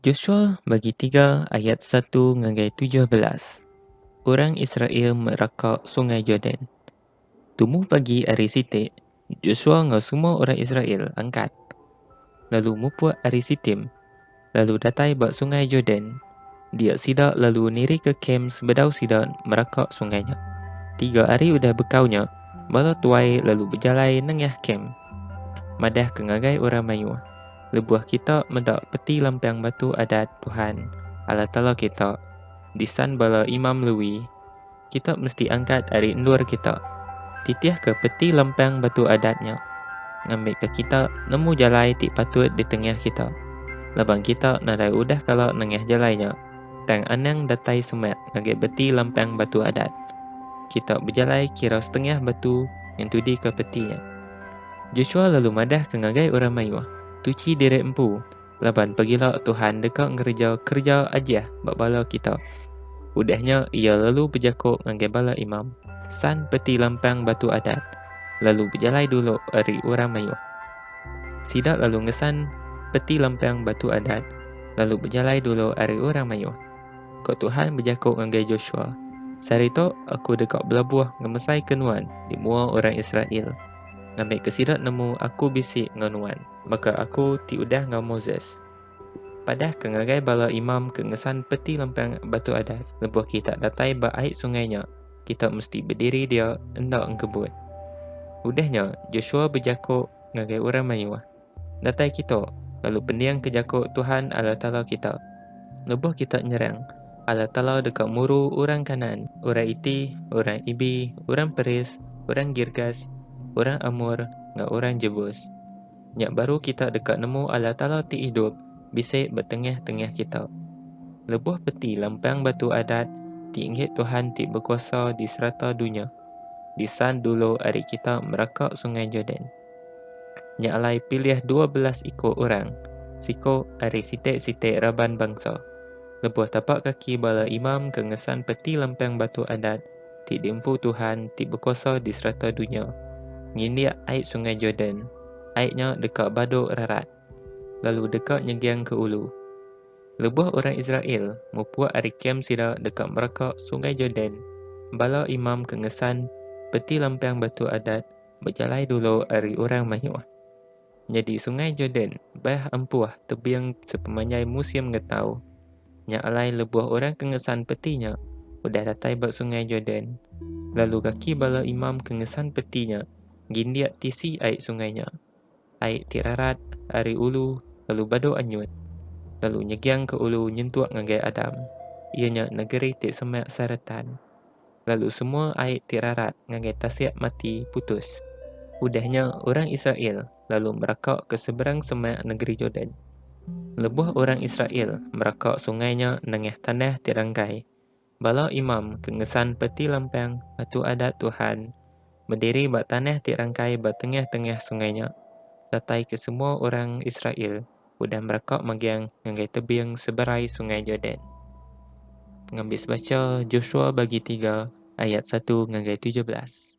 Joshua bagi tiga ayat satu ngagai tujuh belas, Orang Israel meh raka Sungai Jordan. Tumu pagi ari siti, Joshua enggau semua orang Israel angkat lalu mupuk ari Sitim lalu datai ba Sungai Jordan Dia sida lalu nirika kem sebedau sida meraka sungai nya. Tiga hari udah bekau nya, bala tuai lalu bejalai nengah kem. Madah ke ngagai orang mayuh, lebuh kita meda peti lampang batu adat Tuhan, Allah Taala kita, disan bala imam Lewi, Kita mesti angkat ari endur kita, titihka peti lempang Batu Adat nya, ngambika kita nemu jalai ti patut di tengah kita, laban kita nadai udah kala nengah jalai nya, tang anang datai semak ngagai beti lempang Batu Adat. Kita bejalai kira setengah batu ngentudika peti nya. Joshua lalu madahka ngagai orang mayuh, Tuchi diri empu! Laban pagila Tuhan deka ngereja kereja Ajih ba bala kita. Udah nya iya lalu bejako ngagai bala imam, San peti lampang Batu Adat, lalu bejalai dulu ari orang mayuh. Sida lalu ngesan peti lampang Batu Adat, lalu bejalai dulu ari orang mayuh. Ko Tuhan bejako ngagai Joshua, Sehari tu aku deka belabuh ngemesai ke nuan di mua orang Israel, ngambika sida nemu aku bisi enggau nuan. Baka aku ti udah enggau Moses. Padah ke ngagai bala imam ke ngesan peti lempang Batu Adat lebuh kita datai ba ai sungai nya, kita mesti bediri dia enda engkebut. Udah nya, Joshua bejako ngagai orang mayuh, Datai kita, lalu pendingka jako Tuhan Allah Taala kita. Lebuh kita nyerang, Allah Taala deka muru orang Kanaan, orang Iti, orang Ibi, orang Peris, orang Girgas, orang Amor, enggau orang Jebus. Nya baru kita deka nemu Allah Taala ti idup bisi ba tengah-tengah kita. Lebuh peti lempang batu adat ti inggit Tuhan ti bekuasa di serata dunya disan dulu ari kita meraka Sungai Jordan. Nya alai pilih dua belas iko orang, siko ari site-site raban bangsa, lebuh tapak kaki bala imam ke ngesan peti lempang batu adat ti diempu Tuhan ti bekuasa di serata dunya, ngindik ai Sungai Jordan, ai nya deka baduk rarat, lalu deka nyeging ke ulu. Lebuh orang Israel mupuk ari kem sida deka mereka Sungai Jordan, bala imam ke ngesan peti lempang batu adat Bejalai dulu ari orang mayuh. Nyadi Sungai Jordan bah empuh tebing sepemanjai musim ngetau. Nya alai lebuh orang ke ngesan peti nya udah datai ba Sungai Jordan, lalu kaki bala imam ke ngesan peti nya gindik tisi ai sungai nya. Ai ti rarat ari ulu lalu badu anyut, lalu nyegiang ke ulu nyentuk ngagai Adam, iya nya negeri ti semak saretan. Lalu semua ai ti rarat ngagai tasik mati putus. Udah nya orang Israel lalu meraka ke seberang semak negeri Jordan. Lebuh orang Israel meraka sungai nya nengah tanah ti ranggai, Bala imam ke ngesan peti lampang Batu Adat Tuhan bediri ba tanah ti rangkai ba tengah-tengah sungai nya, datai ke semua orang Israel udah meraka megang ngagai tebing seberai Sungai Jordan. Pengabis bacha, Joshua bagi tiga ayat satu ngagai tujuh belas.